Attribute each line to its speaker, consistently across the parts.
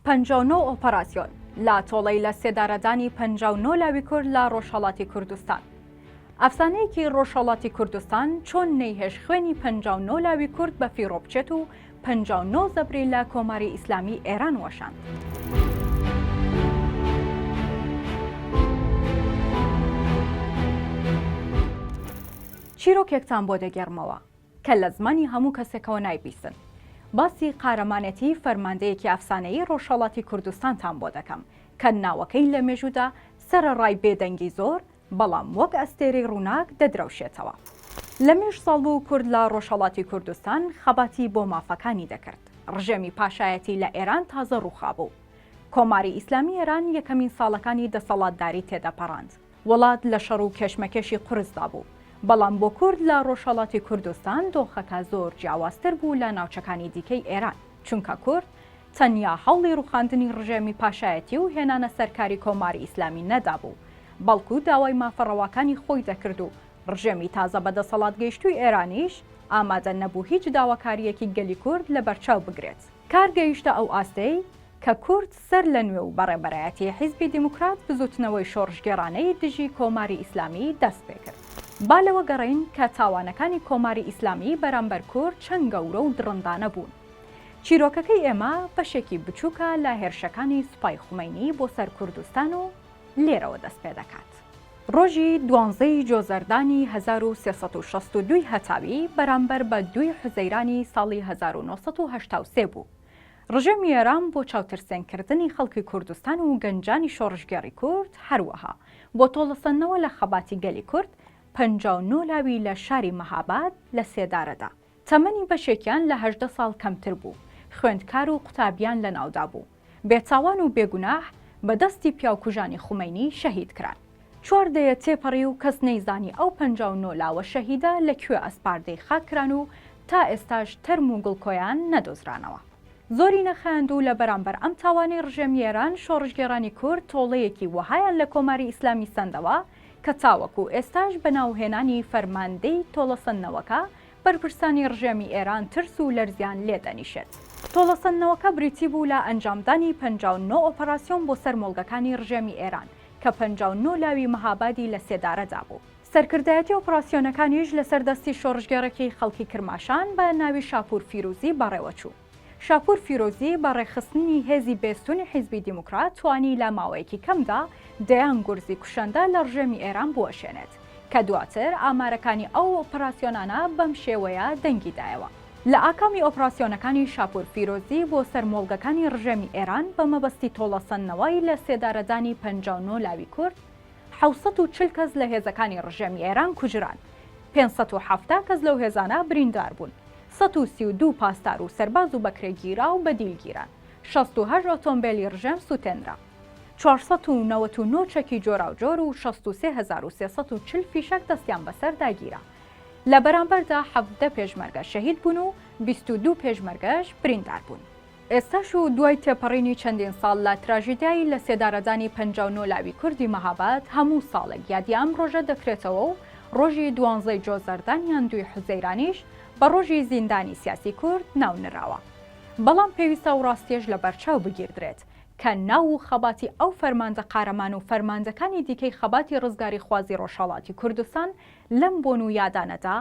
Speaker 1: پەنجا و نۆ ئۆپەراسیۆن لە تۆڵەی لە سێدارەدانی پەنجا و نۆ لاوی کورد لە ڕۆژهەڵاتی کوردستان. ئەفسانەیەکی ڕۆژهەڵاتی کوردستان چۆن نەیهێشت خوێنی پەنجا و نۆ لاوی کورد بە فیڕۆ بچێت و پەنجا و نۆ زەبری لە کۆماری ئیسلامی ئێران وەشاند. چیرۆکێکتان بۆ دەگێڕمەوە، کە لە زمانی هەموو کەسێکەوە نایبیستن. باسی قارەمانێتیی فەرماندەیەکی ئەفسانەیی ڕۆژهەڵاتی کوردستانتان بۆ دەکەم، کە ناوەکەی لە مێژوودا سەرەڕای بێدەنگی زۆر، بەڵام وەک ئەستێرەی ڕووناک دەدرەوشێتەوە. لە مێژ ساڵ بوو کورد لە ڕۆژهەڵاتی کوردستان خەباتی بۆ مافەکانی دەکرد. ڕژێمی پاشایەتی لە ئێران تازە ڕووخابوو. کۆماری ئیسلامیی ئێران یەکەمین ساڵەکانی دەسەڵاتداری تێدەپەڕاند. وڵات لە شەڕ و کێشمەکێشی قورسدا بوو، بەڵام بۆ کورد لە ڕۆژهەڵاتی کوردستان دۆخەکە زۆر جیاوازتر بوو لە ناوچەکانی دیکەی ئێران، چونکە کورد تەنیا هەوڵی ڕوخاندنی ڕژێمی پاشایەتی و هێنانە سەر کاری کۆماری ئیسلامی نەدابوو، بەڵکو داوای مافە ڕەواکانی خۆی دەکرد و ڕژێمی تازە بە دەسەڵات گەیشتووی ئێرانیش ئامادە نەبوو هیچ داواکارییەکی گەلی کورد لەبەرچاو بگرێت. کار گەیشتە ئەو ئاستەی کە کورد سەرلەنوێ و بە ڕێبەرایەتی حیزبی دیموکرات بزووتنەوەی شۆڕشگێڕانەی دژی کۆماری ئیسلامی دەست پێ کرد. با لەوە گەڕێین کە تاوانەکانی کۆماری ئیسلامی بەرامبەر کورد چەند گەورە و دڕندانە بوون. چیرۆکەکەی ئێمە بەشێکی بچووکە لە هێرشەکانی سوپای خومەینی بۆ سەر کوردستان و لێرەوە دەست پێ دەکات. ڕۆژی دوانزە ی جۆزەردانی هەزار و سێ سەد و شەست و دوو ی هەتاوی بەرامبەر بە دووی حوزەیرانی ساڵی هەزار و نۆ سەد و هەشتا و سێ بوو. ڕژێمی ئێران بۆ چاوترسێن کردنی خەڵکی کوردستان و گەنجانی شۆڕشگێڕی کورد هەروەها بۆ تۆڵەسەندنەوە لە خەباتی گەلی کورد پەنجا و نۆ لاوی لە شاری مەهاباد لە سێدارەدا تەمەنی بەشێکیان لە هەژدە ساڵ کەمتر بوو خوێندکار و قوتابیان لەناودابوو بێتاوان و بێگوناح بە دەستی پیاوکوژانی خومەینی شەهید کران. چوار دەیە تێپەڕی و کەس نەیزانی ئەو پەنجا و نۆ لاوە شەهیدە لە کوێ ئەسپاردەی خاک کران و تا ئێستاش تەرم و گڵکۆیان نەدۆزرانەوە. زۆری نەخایاند و لە بەرامبەر ئەم تاوانەی ڕژێمی ئێران، شۆڕشگێڕانی کورد تۆڵەیەکی وەهایان لە کۆماری ئیسلامی سەندەوە کە تاوەکوو ئێستاش بە ناوهێنانی فەرماندەی تۆڵەسەندنەوەکە بەرپرسانی ڕژێمی ئێران ترس و لەرزیان لێ دەنیشێت. تۆڵەسەندنەوەکە بریتی بوو لە ئەنجامدانی پەنجا و نۆ ئۆپەراسیۆن بۆ سەر مۆڵگەکانی ڕژێمی ئێران کە پەنجا و نۆ لاوی مەهابادی لە سێدارەدا بوو. سەرکردایەتی ئۆپراسیۆنەکانیش لەسەر دەستی شۆڕشگێڕێکی خەڵکی کرماشان بە ناوی شاپوور فیرووزی بەڕێوە چوو. شاپوور فیرۆزی بە ڕێکخستنی هێزی بێستوونی حیزبی دیموکرات توانی لە ماوەیەکی کەمدا دەیان گورزی کوشەندە لە ڕژێمی ئێران بوەشێنێت کە دواتر ئامارەکانی ئەو ئۆپراسیۆنانە بەم شێوەیە دەنگی دایەوە. لە ئاکامی ئۆپراسیۆنەکانی شاپوور فیرۆزی بۆ سەر مۆڵگەکانی ڕژێمی ئێران بە مەبەستی تۆڵەسەندنەوەی لە سێدارەدانی پەنجا و نۆ لاوی کورد، حەوت سەد و چل کەس لە هێزەکانی ڕژێمی ئێران کوژران، پێنج سەد و حەفتا کەس لەو هێزانە بریندار بوون. سەد و سی و دوو پاسدار و سەرباز و بەکرێگیراو بە دیل گیران، شەست و هەشت ئۆتۆمبێلی ڕژێم سووتێنرا، چوار سەد و نەوەد و نۆ چەکی جۆراوجۆر و شەست و سێ هەزار و سێ سەد و چل فیشەک دەستیان بەسەردا گیرا. لە بەرامبەردا حەڤدە پێشمەرگە شەهید بوون و بیست و دوو پێشمەرگەش بریندار بوون. ئێستاش و دوای تێپەڕینی چەندین ساڵ لە تراژیدیای لە سێدارەدانی پەنجا و نۆ لاوی کوردی مەهاباد، هەموو ساڵێک یادی ئەم ڕۆژە دەکرێتەوە و ڕۆژی دوانزەی جۆزەردان یان دووی حوزەیرانیش بە ڕۆژی زیندانی سیاسی کورد ناو نراوە. بەڵام پێویستە ئەو ڕاستیەش لە بەرچاو بگیردرێت کە ناو و خەباتی ئەو فەرماندە قارەمان و فەرماندەکانی دیکەی خەباتی ڕزگاریخوازی ڕۆژهەڵاتی کوردستان لەم بۆن و یادانەدا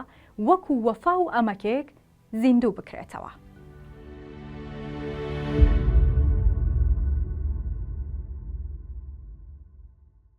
Speaker 1: وەکو وەفا و ئەمەکێک زیندوو بکرێتەوە.